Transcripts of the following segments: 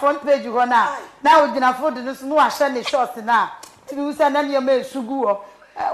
Front page hɔ no a na ogyina fold no so na wahyɛ ne short no a tumi hu sɛ na nneɛma resu gu hɔ.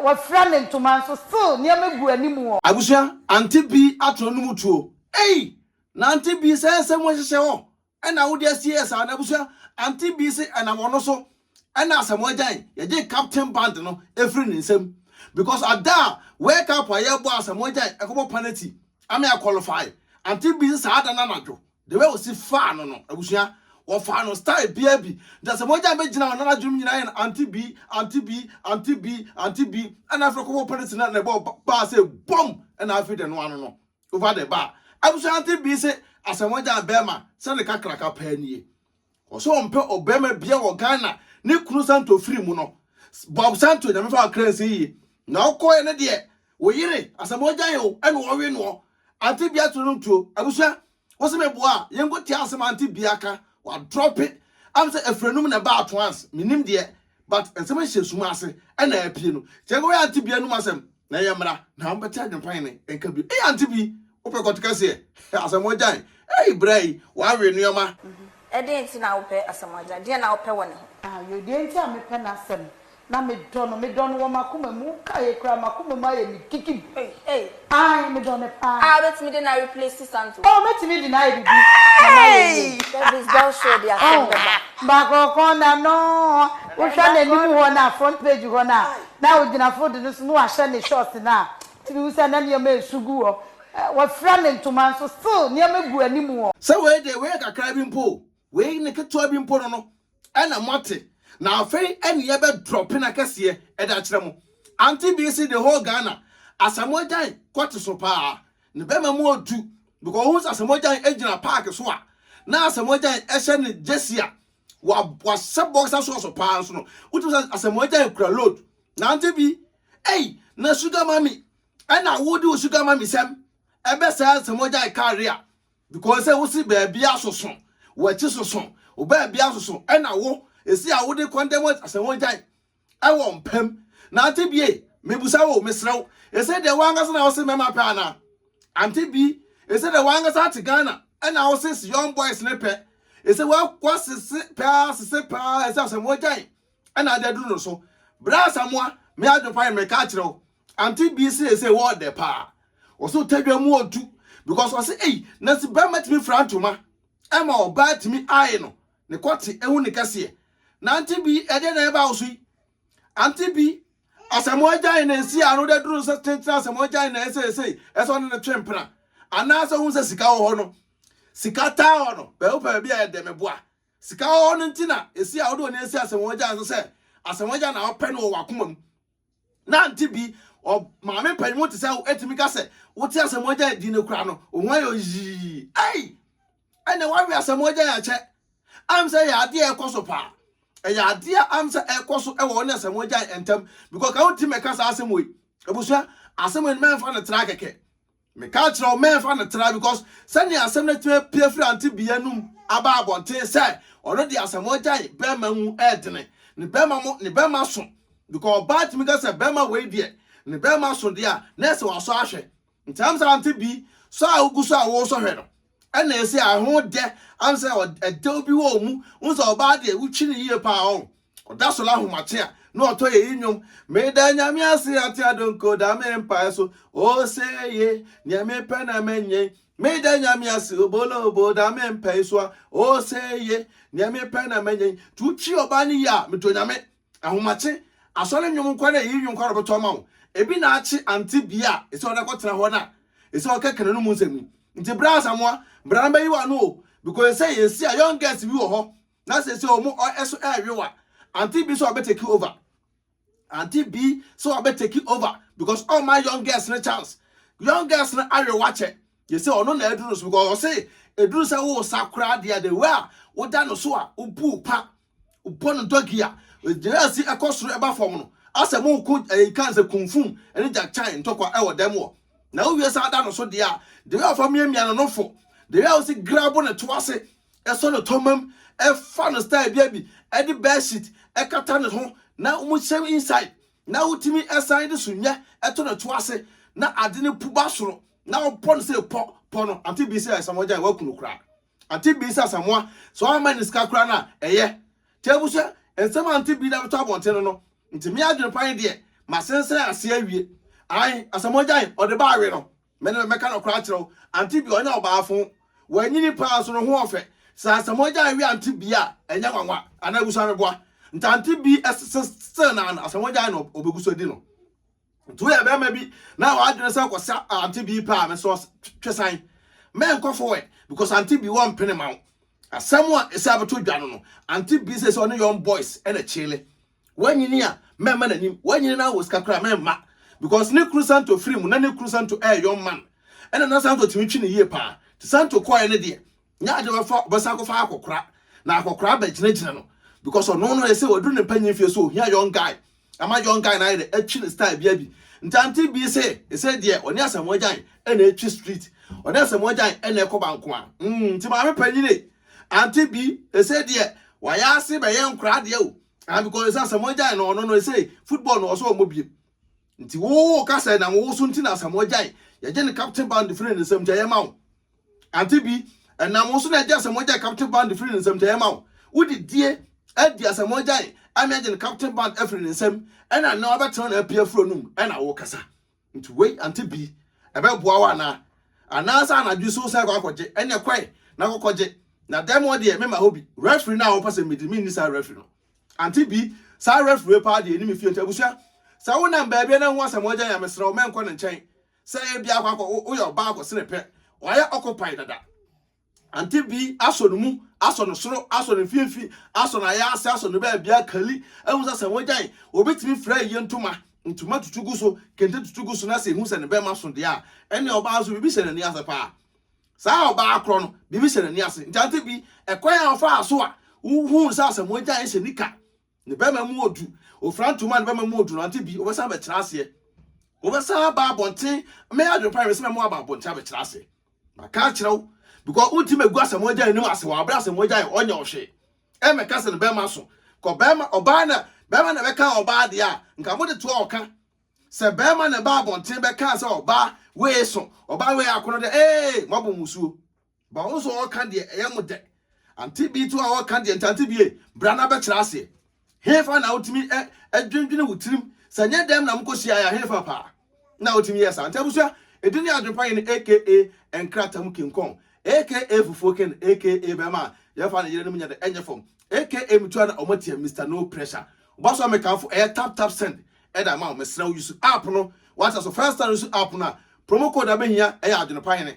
Wafira ne ntoma nso still nneɛma gu anim hɔ. Abusua, Aunty Bee atena no mu tuo. Ei! Na Aunty Bee sɛ ɛsɛ mu ɛhyehyɛ hɔ ɛna wode asie yɛ saa no abusua, Aunty Bee se ɛnam ɔno so ɛna asɛm ɔgyae yɛgyee captain band no ɛfiri ne nsam because ada a wake up a yɛbɔ a asɛm ɔgyae ɛkɔbɔ penalty ama yɛ qualify Aunty Bee se saa da no anadwo The way osi faa no no abusua wɔfaa no style biaa bi nti na sɛ mogya no bɛgyina hɔ na nadwenem nyinaa yɛ no aunty bi aunty bi aunty bi aunty bi ɛna afei kɔbɔ pɛrɛsi na na ɛbɔ baa sɛ bom ɛna afei de noa no no over the bar abusua aunty bi se asɛ mogya bɛɛma sɛ ne kakraka paa nie Ɔsɛ ɔmpɛ ɔbarima bia wɔ Ghana ne kunu santo firi mu no Bob santo nyame fa wakra nsi yie na ɔkɔɛ ne deɛ wo yere asɛmɔ gya yɛ o ɛna ɔwe noɔ ante bia turo nom tuo abusua wo se me boa a yɛnkɔ tia asɛm ante bia ka wa drop it am sɛ afiri anum na ɛba at once menim deɛ But nsɛm ahyɛ sum ase ɛna apue no kyerɛ sɛ woyɛ ante bi anum asɛm na ɛyɛ mmra na wobɛte adwempan ne nka bio ei ante bi wopɛ kɔte kɛseɛ asɛm ɔgyan ei bra yi wawe nnoɔma. Ɛdeɛn nti na wopɛ asɛm ɔgyan deɛn na wopɛ wɔ ne ho. Ayo deɛ nti a mepɛ n'asɛm na medɔ no medɔ no wɔ m'akoma mu wokaeɛ koraa m'akoma mu ayɛ me gigib ei ei. Aye me dɔ no paa. Ah mɛtumi de no a replace Santo. Oh mɛtumi de no ayɛ biribi na no ayɛ yie. Service girl sure de asɛm bɛba. Oh baako kɔn na no wo hwɛ n'anim hɔ no a front page hɔ no a na ɔgyina fold no so na wahyɛ ne short no a tumi hu sɛ na nneɛma resu gu hɔ wafira ne ntoma nso still nneɛma gu anim hɔ. Sɛ wei deɛ wei yɛ kakra bi mpo o wei ne ketewa bi mpo no no Ɛna moate na afei ɛne yɛ bɛ drop na kɛseɛ ɛde akyerɛ mo Auntie Bee se the whole Ghana Asamoahgyan court so paa ne bɛma mu odu because wohu sɛ Asamoahgyan ɛgyina park so a na Asamoahgyan ɛhyɛ ne gyesi a wa wahyɛ boxer sɔɔso paa nso no wotumi sɛ Asamoahgyan kura load na Auntie Bee ei na sugar mummy ɛna wode wo sugar mummy sɛm ɛbɛ saa Asamoahgyan car a because sɛ wosi baabi asoso wɔakyi soso wo baabi asoso ɛna wo esi a wode kɔndɛm asɛ wɔn gyae ɛwɔ mpam na ante bie mebusa wo mesrɛ wo ɛsɛ deɛ wankasa na wose mɛma pɛ ana ante bi ɛsɛ deɛ wankasa ate Ghana ɛna wose si young boys ne pɛ ɛsɛ wasese paa sese paa ɛsɛ asɛ wɔn gyae ɛna ade aduru no so bra samoa me adwopa yɛ meka akyerɛ wo Ante bi se se wɔ dɛ paa. Wɔse otadwa mu otu because ɔse ei na se bɛrima tumi fra ntoma ɛma ɔbaa tumi ae no ne kɔte ehu ne kɛseɛ. Na ante bi ɛdeɛ na ɛba wo so yi? Ante bi asɛm agyae na esi ano dɛ duru sɛ tentena asɛm agyae na ɛsɛ ɛsɛ ɛsɛ ɔne ne twe mpena anaasɛ ohun sɛ sika wɔ hɔ no sika taa hɔ no bɛɛ wopɛ baabi a ɛdɛ me boa sika wɔ hɔ no nti na esi a wode w'ani asi asɛm agyae so sɛ asɛm agyae na wopɛ no wɔ w'akoma mu Nante bi, ɔ, maame panyin mu te sɛ wo, etumi ka sɛ, wote asɛmmoagyae din no koraa no, wo ho ayɛ yii. Ei! Ɛnna woawe asɛmmoagyae akyɛ. Am sɛ ɛyɛ adeɛ a ɛkɔ so paa. Ɛyɛ adeɛ a am sɛ ɛkɔ so wɔ wo ne asɛmmoagyae ntam, because ka wotumi bɛka saa asɛm wei. Abusua, asɛm wei no mɛmfa no tra kɛkɛ. Mekaa kyerɛɛ wo mɛmfa no tra because sɛnea asɛm no atumi apue afiri ante bea no mu aba abɔnten sɛ ɔno deɛ asɛm ɔgyae bɛɛma mu ɛɛdene ne bɛɛma mo ne bɛɛma so because ɔbaa tumi ka sɛ bɛɛma wei deɛ ne bɛɛma so deɛ a na ɛsɛ wasɔ ahwɛ nti amsa ante bi sɔ a wogu so a wosɔ hwɛ no Ɛna ɛsɛ a ɛho dɛ ano sɛ ɛdɛw bi wɔ mu wohu sɛ ɔbaa deɛ wotwi no yie paa ɔn ɔda so la ahomakye a na ɔtɔ yɛ yi nnwom meda nyame ase ate adonko da me mpae so oseye neɛ mepɛ na mɛnyɛ meda nyame ase obolo obo da me mpae so a oseye neɛ mepɛ na mɛnyɛ nti wotwi ɔbaa no yie a medɔ nyame Ahomakye, Asɔre nnwom nkoa na eyi nnwom koa na ɔbɛtɔ ama wo. Ebi na akye ante bea a ɛsɛ ɔde akɔtena hɔ no a ɛsɛ ɔka Canaan mu nsɛm yi. Nti bra Asamoah, bra na bɛyi w'ano o, because ɛsɛ sɛ yɛsi a young girls bi wɔ hɔ na seesei wɔn ɔ ɛso ɛreyow a, Auntie Bee sɛ ɔbɛ take over. Auntie Bee sɛ ɔbɛ take over because ɔmma young girls no chance. Young girls no ayow akyɛ. Yɛsɛ ɔno na aduru no so because ɔse ɛduru sɛ wo sa koraa deɛ a the way a woda no so a wobu pa Wopɔ no dɔge a, egyina ase kɔ soro ɛba fam no, asɛ mo ko ɛyɛ kan sɛ kunfum ɛne gyakyan ntɔkwa ɛwɔ dɛm wɔ. Na wowie saa da no so deɛ a, deɛ ɛyɛ ɔfa miamia no no fo, deɛ ɛyɛ ɔsi grabo ne to ase, ɛsɔ ne tɔmam, ɛfa no style bia bi, ɛde bed sheet ɛkata ne ho, na mo hyɛm inside, na wotumi ɛsan de sunyɛ ɛto ne to ase, na ade no pu ba soro, na wopɔ no sɛ pɔ, pɔ no, ante bi sɛ ɛsɛ wɔgyae, woaku no koraa. Ante bi sɛ Asamoah sɛ ɔremma ne sika koraa no a ɛyɛ. Teabu sɛ nsɛm a Ante bi de abɛtɔ abɔnten no no nti me adwene pa yi deɛ masensɛn ase awie. Ae Asamoah gyae ɔde ba awe no. Me ne mɛka nɔkorɛ akyerɛ wo Ante bi ɔnyɛ ɔbaafo. Wanyini paa nso ne ho ɔfɛ. Sɛ Asamoah gyae we Ante bi a ɛnyɛ nwanwa anaa abusua meboa nti Ante bi still na Asamoah gyae no ɔbɛgu so adi no. Nti woyɛ bɛrima bi na w'adwene sɛ kɔsa ante bi paa me sɛ twesan mɛnkɔ forward because ante bi wɔ mpene ma wo asɛm a ɛsɛ abɛto dwa no no ante bi sɛ sɛ ɔne young boys ɛna kyele wanyini a mɛmma n'anim wanyini na wɔ sika koraa mɛmma because ne kuru santo firi mu na ne kuru santo ɛyɛ young man ɛna na santo tumi twi ne yie paa te santo kɔɛ ne deɛ Nyɛ ade ɔbɛfa ɔbɛsan akɔfa akɔkora na akɔkora abɛgyinagyina no because ɔno no yɛ sɛ ɔduru ne mpanyin fie so ohia young guy ama young guy no ayɛ dɛ atwi ne style bia bi nti ante bi se ɛsɛ deɛ ɔne Asamoah Gyan ɛna atwi street ɔne Asamoah Gyan ɛna ɛkɔ bankoa mm nti maame panyin e ante bi ɛsɛ deɛ wayɛ ase bɛyɛ nkora adeɛ o ah because ɛsɛ Asamoah Gyan no ɔno no ɛsɛ football no ɔsɛ ɔmɔ biem Nti wo wo ka sɛ na wo so nti na asamoa gyae. Yɛgye ne captain band firi ne nsam nti ɛyɛ ma wo. Ante bi? Ɛnam wo so na yɛgye asamoa gyae captain band firi ne nsam nti ɛyɛ ma wo. Wode die adi asamoa gyae ama yɛagye ne captain band afiri ne nsam ɛna nnɛ wabɛtena na apue afiri w'anom ɛna wokasa. Nti wei ante bi? Ɛbɛboa wo anaa? Anaasɛ anadwo so wosan kɔ akɔgye? Ɛneɛ kɔe na kɔkɔgye. Na dɛm hɔ deɛ memma hɔ bi. Referee no a wopɛ sɛ medi menni saa referee no. Ante bi, saa referee yi paa deɛ ɛnim efie nti abusua sɛ wo nam baabi na wohu asɛm ɔgya ya mesrɛ wo mɛnkɔ ne nkyɛn sɛ ebi akɔ akɔ woyɛ ɔbaa akɔ sene pɛ wayɛ occupy dada Ante bi asɔ no mu asɔ no soro asɔ no mfimfini asɔ no ayɛ ase asɔ no baabi akali ehu sɛ asɛm ɔgya yi obetumi fira yie ntoma ntoma tutu gu so kente tutu gu so na sɛ ehu sɛ ne bɛma so deɛ a ɛne ɔbaa nso biribi hyɛ n'ani ase paa Saa ɔbaa korɔ no, biribi hyɛ n'ani ase. Nti ante bi, ɛkwan a ɔfaa so a wohuu no sɛ Asamoah Gyan hyɛ nika, ne bɛrima mu odu, ofira ntoma a ne bɛrima mu odu no, ante bi, ɔbɛsan abɛkyerɛ aseɛ. Ɔbɛsan aba abɔnten. Mɛyɛ adwene paa sɛ mɛma waba abɔnten abɛkyerɛ aseɛ. Maka akyerɛ wo, because wonti mɛgu Asamoah Gyan anim ase wɔ abere Asamoah Gyan ɔnyɛ wo hwee. Ɛmmɛka sɛ ne bɛrima so. Kɔ bɛrima, ɔbaa na, bɛrima na ɛbɛka ɔbaa deɛ a, nka mode toa ɔka. Sɛ bɛɛma na ɛbaa abɔnten bɛkaa sɛ ɔbaa wee so ɔbaa wee akono dɛ ee moabɔ mo suo. Ba wo nso ɔɔka deɛ ɛyɛ mo dɛ. Ante bi to a ɔɔka deɛ nti ante bie bra na bɛkyerɛ aseɛ. Hefa na wotumi ɛ ɛdwendwene wo tirim sɛ nyɛ dɛm na mokɔ hyiaeɛ a hefa paa na ɔtumi yɛ saa. Nti abusua ɛdi ne adwene pa yi ne aka nkrata mu kinkɔn aka fufuo ken aka bɛɛma a yɛfa ne yere nom nyɛ dɛ ɛnyɛ fam aka metua na ɔmo atia Mister no pressure. Woba so a mekamfo ɛyɛ tap tap send ɛde ama wo mesrɛ wo use app no wate aso first time use app no a promo code a bɛhia ɛyɛ adwenepa hene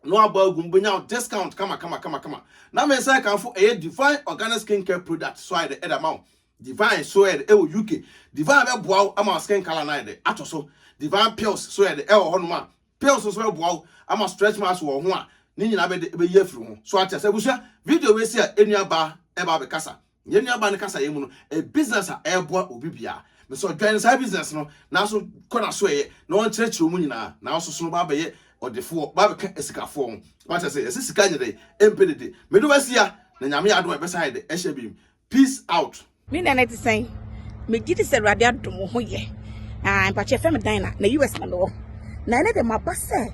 na wabɔ agu mu bɛnya discount kama kama kama kama na me nsa ɛkanfo ɛyɛ divine organic skin care product so ayɛ dɛ ɛde ama wo divine so ɛyɛ dɛ ɛwɔ uk divine bɛboa wo ama skin color no ayɛ dɛ atɔ so divine pills so ɛyɛ dɛ ɛwɔ hɔnom a pills nso bɛboa wo ama stretch marks wɔ ho a ne nyinaa bɛde bɛyi afiri ho so ate asɛ abusua video wei si a ɛnua baa ɛba abɛkasa Yɛn nuabaa no kasaeɛ mu no, ɛyɛ business a ɛreboa obi biara. Mesɛ ɔdwan saa business no, nanso kɔ n'aso ɛyɛ na ɔnkyerɛkyerɛ wɔn nyinaa, nanso sono ba abɛyɛ ɔdefoɔ, ba abɛka asikafoɔ ho. Wate ase, yɛsɛ sika nyɛ dɛ, ɛmpɛ dede. Mede wasia, na Nyame yɛ adom a ɛbɛsa ayɛ dɛ, ɛhyɛ bim. Peace out. Me dan ɛte sɛn? Megye di sɛ Awurade adom wo ho yɛ. Ah, mpakyɛ fɛ me dan na na US na mewɔ. Na ɛne de maba sɛ